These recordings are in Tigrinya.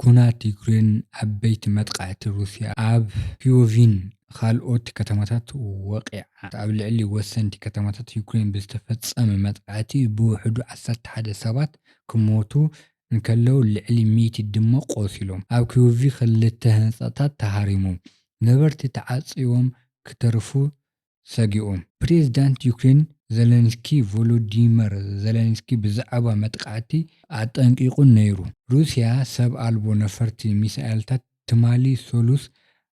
ኲናት ዩክሬን፣ ዓበይቲ መጥቓዕቲ ሩስያ ኣብ ክዮቭን ኻልኦት ከተማታት ወቒዓ። ኣብ ልዕሊ ወሰንቲ ከተማታት ዩክሬን ብዝተፈጸመ መጥቓዕቲ ብውሕዱ ዓሰርተ ሓደ ሰባት ክሞቱ እንከለዉ ልዕሊ ሚእቲ ድማ ቆሲሎም። ኣብ ክዮቭ ክልተ ህንጻታት ተሃሪሙ፣ ነበርቲ ተዓጽዮም ክተርፉ ሰጊኡ። ፕሬዝዳንት ዩክሬን ዘለንስኪ ቮሎዲመር ዘለንስኪ ብዛዕባ መጥቓዕቲ ኣጠንቂቑ ነይሩ። ሩስያ ሰብ ኣልቦ ነፈርቲ ሚሳኤልታት ትማሊ ሰሉስ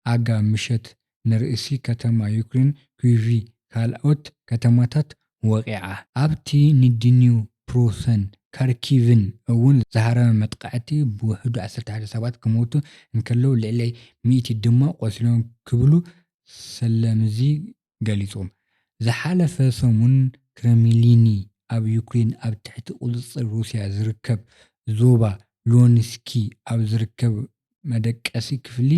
ኣጋ ምሸት ንርእሲ ከተማ ዩክሬን ኪይቪ ካልኦት ከተማታት ወቒዓ። ኣብቲ ንድኒፕሮሰን ካርኪቭን እውን ዝሃረመ መጥቓዕቲ ብውሕዱ ዓሰርተ ሓደ ሰባት ክሞቱ እንከለው ልዕሊ ሚእቲ ድማ ቆሲሎም ክብሉ ሰለምዚ ገሊጾም። ዝሓለፈ ሰሙን ክረምሊኒ ኣብ ዩክሬን ኣብ ትሕቲ ቁጽጽር ሩስያ ዝርከብ ዞባ ሉንስኪ ኣብ ዝርከብ መደቀሲ ክፍሊ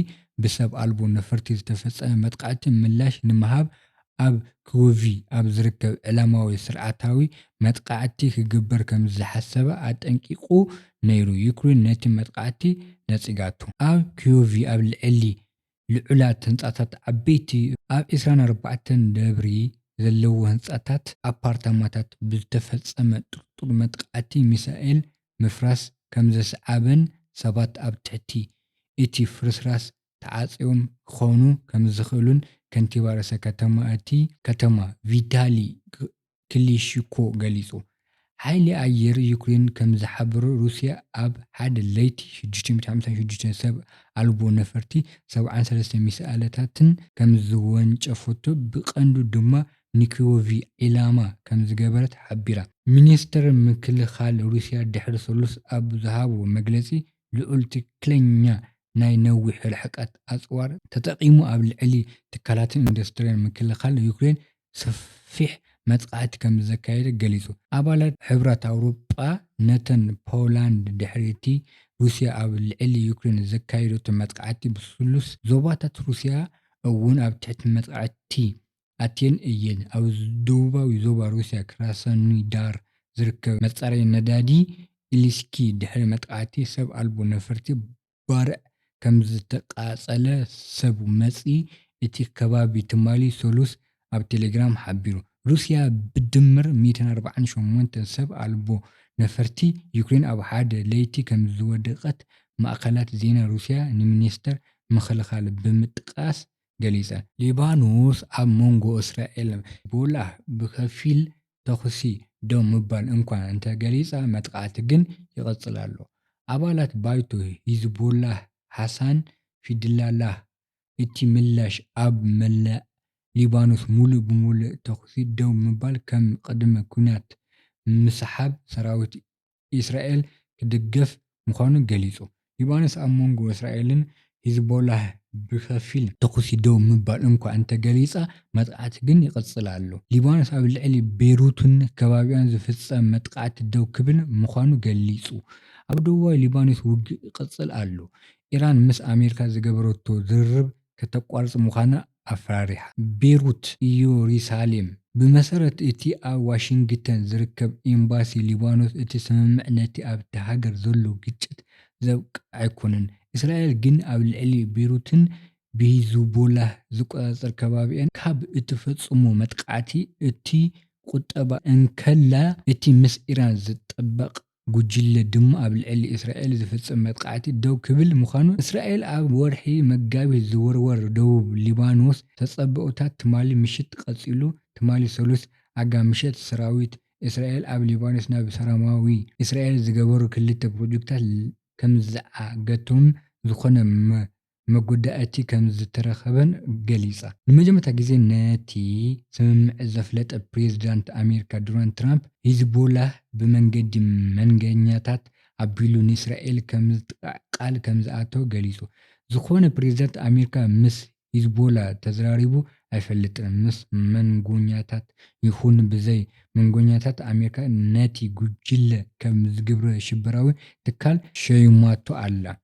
ብሰብ ኣልቦ ነፈርቲ ዝተፈጸመ መጥቓዕቲ ምላሽ ንምሃብ ኣብ ክዩቭ ኣብ ዝርከብ ዕላማዊ ስርዓታዊ መጥቓዕቲ ክግበር ከምዝሓሰበ ኣጠንቂቑ ነይሩ ዩክሬን ነቲ መጥቓዕቲ ነጺጋቶ። ኣብ ክዩቭ ኣብ ልዕሊ ልዑላት ህንጻታት ዓበይቲ ኣብ ዕስራን ኣርባዕተን ደብሪ ዘለዎ ህንጻታት ኣፓርታማታት ብዝተፈጸመ ጥርጡር መጥቓዕቲ ሚሳኤል ምፍራስ ከምዘስዓበን ሰባት ኣብ ትሕቲ እቲ ፍርስራስ ተዓጽዮም ክኾኑ ከምዝኽእሉን ከንቲባ ርእሰ ከተማ እቲ ከተማ ቪታሊ ክሊሺኮ ገሊጹ። ሓይሊ ኣየር ዩክሬን ከም ዝሓበሮ፣ ሩስያ ኣብ ሓደ ለይቲ ሽዱሽተ ሚእቲ ሓምሳን ሽዱሽተን ሰብ ኣልቦ ነፈርቲ ሰብዓን ሰለስተ ሚሳኣለታትን ከምዝወንጨፈቶ፣ ብቀንዱ ድማ ንኪወቭ ዒላማ ከምዝገበረት ሓቢራ። ሚኒስተር ምክልኻል ሩስያ ድሕሪ ሰሉስ ኣብ ዝሃቦ መግለጺ፣ ልዑል ትክክለኛ ናይ ነዊሕ ርሕቀት ኣጽዋር ተጠቒሙ ኣብ ልዕሊ ትካላትን ኢንዱስትሪን ምክልኻል ዩክሬን ሰፊሕ መጥቓዕቲ ከምዘካየደ ገሊጹ። ኣባላት ሕብራት ኣውሮጳ ነተን ፖላንድ ድሕሪ'ቲ ሩስያ ኣብ ልዕሊ ዩክሬን ዘካየደቶ መጥቓዕቲ ብስሉስ ዞባታት ሩስያ እውን ኣብ ትሕቲ መጥቓዕቲ ኣቴን እየን። ኣብ ደቡባዊ ዞባ ሩስያ ክራሳኖዳር ዝርከብ መጻረዪ ነዳዲ ኢሊስኪ ድሕሪ መጥቓዕቲ ሰብ ኣልቦ ነፈርቲ ባርዕ ከምዝተቓጸለ ሰብ መዚ እቲ ከባቢ ትማሊ ሰሉስ ኣብ ቴሌግራም ሓቢሩ። ሩስያ ብድምር ሚእትን ኣርባዓን ሸሞንተን ሰብ ኣልቦ ነፈርቲ ዩክሬን ኣብ ሓደ ለይቲ ከምዝወድቐት ማእከላት ዜና ሩስያ ንሚኒስተር ምክልኻል ብምጥቃስ ገሊጸ። ሊባኖስ ኣብ መንጎ እስራኤል ሕዝቦላህ ብኸፊል ተኹሲ ደው ምባል እንኳ እንተገሊጻ መጥቓዕቲ ግን ይቕጽል ኣሎ። ኣባላት ባይቶ ሂዝቦላህ ሃሳን ፊድላላህ እቲ ምላሽ ኣብ መላእ ሊባኖስ ምሉእ ብምሉእ ተኹሲ ደው ምባል ከም ቅድመ ኲናት ምስሓብ ሰራዊት ኢስራኤል ክድገፍ ምዃኑ ገሊጹ። ሊባኖስ ኣብ መንጎ እስራኤልን ሂዝቦላህ ብኸፊል ተኹሲ ደው ምባል እንኳ እንተ ገሊጻ፣ መጥቓዕቲ ግን ይቕጽል ኣሎ። ሊባኖስ ኣብ ልዕሊ ቤሩትን ከባቢኣን ዝፍጸም መጥቓዕቲ ደው ክብል ምዃኑ ገሊጹ። ኣብ ደቡባዊ ሊባኖስ ውግእ ይቕጽል ኣሎ። ኢራን ምስ ኣሜሪካ ዝገበረቶ ዝርርብ ከተቋርጽ ምዃና ኣፍራሪሓ። ቤሩት እዩሪሳሌም፣ ብመሰረት እቲ ኣብ ዋሽንግተን ዝርከብ ኤምባሲ ሊባኖስ እቲ ስምምዕ ነቲ ኣብታ ሃገር ዘሎ ግጭት ዘብቅዕ ኣይኮነን፣ እስራኤል ግን ኣብ ልዕሊ ቤሩትን ብሂዝቦላህ ዝቆጻጸር ከባቢኣን ካብ እትፈጽሞ መጥቃዕቲ እትቁጠባ እንከላ እቲ ምስ ኢራን ዝጣበቕ ጉጅለ ድማ ኣብ ልዕሊ እስራኤል ዝፍጸም መጥቓዕቲ ደው ክብል ምዃኑ፣ እስራኤል ኣብ ወርሒ መጋቢት ዝውርወር ደቡብ ሊባኖስ ተጸብኦታት ትማሊ ምሽት ቀጺሉ። ትማሊ ሰሉስ ኣጋ ምሸት ሰራዊት እስራኤል ኣብ ሊባኖስ ናብ ሰራማዊ እስራኤል ዝገበሩ ክልተ ፕሮጀክታት ከምዝዓገቱን ዝኾነ መጐዳእቲ ከም ዝተረኸበን ገሊጻ። ንመጀመርታ ግዜ ነቲ ስምምዕ ዘፍለጠ ፕሬዝዳንት ኣሜሪካ ዶናልድ ትራምፕ፣ ሂዝቦላህ ብመንገዲ መንገኛታት ኣቢሉ ንእስራኤል ከም ዝጥቃዕ ቃል ከም ዝኣተወ ገሊጹ። ዝኾነ ፕሬዝዳንት ኣሜሪካ ምስ ሂዝቦላህ ተዘራሪቡ ኣይፈልጥን፣ ምስ መንጎኛታት ይኹን ብዘይ መንጎኛታት ኣሜሪካ ነቲ ጉጅለ ከም ግብረ ሽበራዊ ትካል ሸይማቶ ኣላ።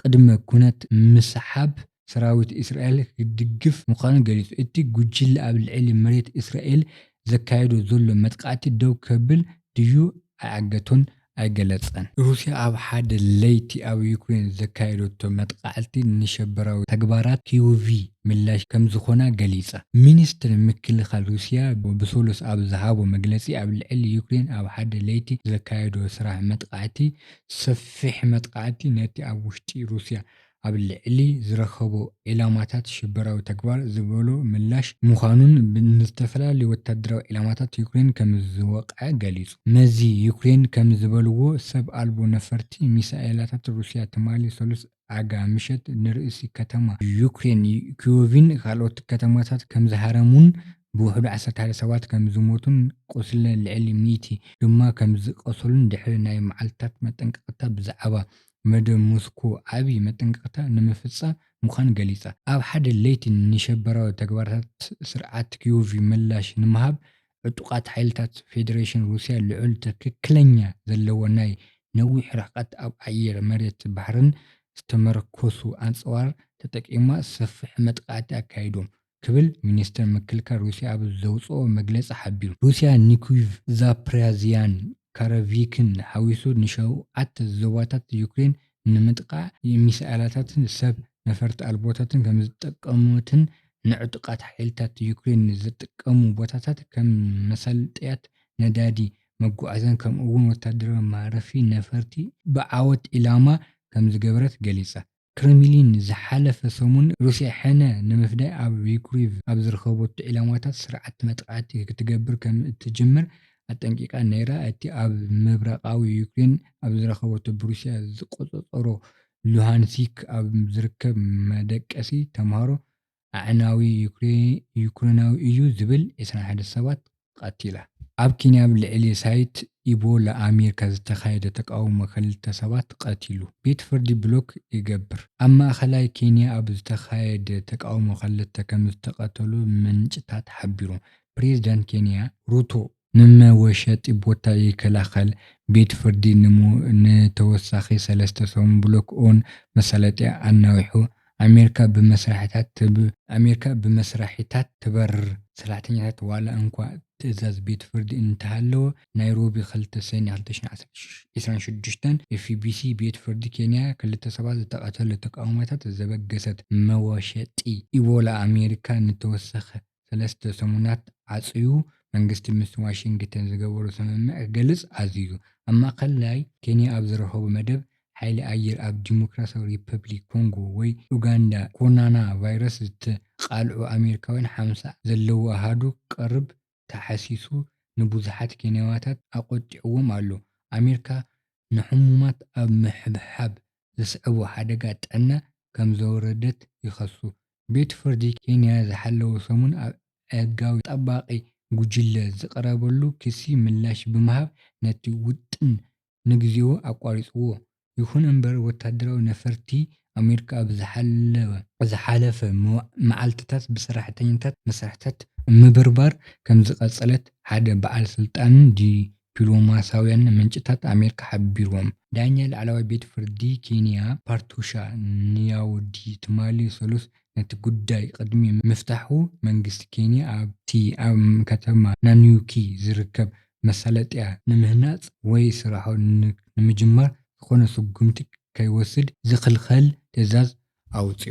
ቅድመ ኩነት ምስሓብ ሰራዊት እስራኤል ክድግፍ ምዃኑ ገሊጹ። እቲ ጉጅለ ኣብ ልዕሊ መሬት እስራኤል ዘካይዶ ዘሎ መጥቃዕቲ ደው ከብል ድዩ ኣይዓገቶን ኣይገለጸን። ሩስያ ኣብ ሓደ ለይቲ ኣብ ዩክሬን ዘካየደቶ መጥቓዕቲ ንሽበራዊ ተግባራት ኪይውቭ ምላሽ ከምዝኾና ገሊጻ። ሚኒስትሪ ምክልኻል ሩስያ ብሰሉስ ኣብ ዝሃቦ መግለጺ ኣብ ልዕሊ ዩክሬን ኣብ ሓደ ለይቲ ዘካየዶ ስራሕ መጥቓዕቲ ሰፊሕ መጥቓዕቲ ነቲ ኣብ ውሽጢ ሩስያ ኣብ ልዕሊ ዝረከቦ ዒላማታት ሽበራዊ ተግባር ዝበሎ ምላሽ ምዃኑን ንዝተፈላለዩ ወተሃደራዊ ዒላማታት ዩክሬን ከምዝወቕዐ ገሊጹ። መዚ ዩክሬን ከምዝበልዎ፣ ሰብ ኣልቦ ነፈርቲ ሚሳኤላታት ሩስያ ትማሊ ሰሉስ ኣጋ ምሸት ንርእሲ ከተማ ዩክሬን ኪዮቭን ካልኦት ከተማታትን ከምዝሃረሙን ብውሕዱ ዓሰርተ ሓደ ሰባት ከምዝሞቱን ቁስሊ ልዕሊ ሚእቲ ድማ ከምዝቐሰሉን ድሕሪ ናይ መዓልታት መጠንቀቕታ ብዛዕባ መደብ ሞስኮ ዓቢ መጠንቀቕታ ንምፍጻም ምዃኑ ገሊጻ ኣብ ሓደ ለይቲ ንሽበራዊ ተግባራት ስርዓት ኪዮቭ ምላሽ ንምሃብ ዕጡቓት ሓይልታት ፌደሬሽን ሩስያ ልዑል ትክክለኛ ዘለዎ ናይ ነዊሕ ርሕቀት ኣብ ኣየር፣ መሬትን ባሕርን ዝተመርኮሱ ኣጽዋር ተጠቂማ ሰፍሒ መጥቓዕቲ ኣካይዶም ክብል ሚኒስተር ምክልካል ሩስያ ኣብ ዘውጽኦ መግለጺ ሓቢሩ። ሩስያ ንኪቭን ዛፕሪያዝያን ካረቪክን ሓዊሱ ንሸውዓተ ዞባታት ዩክሬን ንምጥቃዕ ሚሳኤላታትን ሰብ ነፈርቲ ኣልቦታትን ከምዝተጠቀመትን ንዕጡቓት ሓይልታት ዩክሬን ዝጥቀሙ ቦታታት ከም መሳለጥያታት ነዳዲ፣ መጓዓዝያን ከምኡ'ውን ወተሃደራዊ ማረፊ ነፈርቲ ብዓወት ዒላማ ከምዝገበረት ገሊጻ። ክረምሊን ዝሓለፈ ሰሙን ሩስያ ሕነ ንምፍዳይ ኣብ ዩክሪቭ ኣብ ዝርከበቶ ዒላማታት ስርዓት መጥቓዕቲ ክትገብር ከም እትጅምር ኣጠንቂቓ ነይራ። እቲ ኣብ ምብራቓዊ ዩክሬን ኣብ ዝረከበቶ ብሩስያ ዝቆጸጸሮ ሉሃንሲክ ኣብ ዝርከብ መደቀሲ ተማሃሮ ኣዕናዊ ዩክሬናዊ እዩ ዝብል ዕስራን ሓደን ሰባት ቀቲላ። ኣብ ኬንያ ኣብ ልዕሊ ሳይት ኢቦላ ኣሚርካ ዝተኻየደ ተቃውሞ ክልተ ሰባት ቀቲሉ ቤት ፍርዲ ብሎክ ይገብር። ኣብ ማእኸላይ ኬንያ ኣብ ዝተኻየደ ተቃውሞ ክልተ ከምዝተቀተሉ ምንጭታት ሓቢሮም። ፕሬዝዳንት ኬንያ ሩቶ ንመወሸጢ ቦታ ይከላኸል። ቤት ፍርዲ ንተወሳኺ ሰለስተ ሰሙን ብሎክ ኦን መሳለጥያ ኣናዊሑ። ኣሜሪካ ብመስርሒታት ትበርር። ሰራሕተኛታት ዋላ እንኳ ትእዛዝ ቤት ፍርዲ እንተሃለዎ፣ ናይሮቢ ክልተ ሰኔ ክልተ ሽሕን ዕስራን ሽዱሽተን፣ FBC፣ ቤት ፍርዲ ኬንያ ክልተ ሰባት ዝተቐተሉ ተቓውሞታት ዘበገሰት መወሸጢ ኢቦላ ኣሜሪካ ንተወሳኺ ሰለስተ ሰሙናት ዓጽዩ መንግስቲ ምስ ዋሽንግተን ዝገበሮ ስምምዕ ክገልጽ ኣዚዙ። ኣብ ማእከላይ ኬንያ ኣብ ዝረኸቡ መደብ፣ ሓይሊ ኣየር ኣብ ዲሞክራስያዊ ሪፐብሊክ ኮንጎ ወይ ኡጋንዳ ኮሮና ቫይረስ ዝተቓልዑ ኣሜሪካውያን ሓምሳ ዘለዎ ኣሃዱ ክቐርብ ተሓሲሱ ንብዙሓት ኬንያዋታት ኣቖጢዕዎም ኣሎ። ኣሜሪካ ንሕሙማት ኣብ ምሕብሓብ ዘስዕቦ ሓደጋ ጥዕና ከምዘውረደት ይኸሱ። ቤት ፍርዲ ኬንያ ዝሓለወ ሰሙን ኣብ ኣእጋዊ ጠባቂ ጉጅለ ዝቐረበሉ ክሲ ምላሽ ብምሃብ ነቲ ውጥን ንግዜኡ ኣቋሪጽዎ። ይኹን እምበር ወታደራዊ ነፈርቲ ኣሜሪካ ኣብ ዝሓለወ። ዝሓለፈ መዓልትታት ብሰራሕተኛታት መስርሕታት ምብርባር ከምዝቐጸለት ሓደ በዓል ስልጣን ዲፕሎማስያውያን ምንጭታት ኣሜሪካ ሓቢርዎም። ዳኛ ላዕለዋይ ቤት ፍርዲ ኬንያ ፓርቱሻ ንያውዲ ትማሊ ሰሉስ ነቲ ጉዳይ ቅድሚ ምፍታሑ መንግስቲ ኬንያ ኣብቲ ኣብ ከተማ ናኑዩኪ ዝርከብ መሳለጥያ ንምህናጽ ወይ ስራሑ ንምጅማር ዝኾነ ስጉምቲ ከይወስድ ዝኽልኸል ትእዛዝ ኣውጺኡ።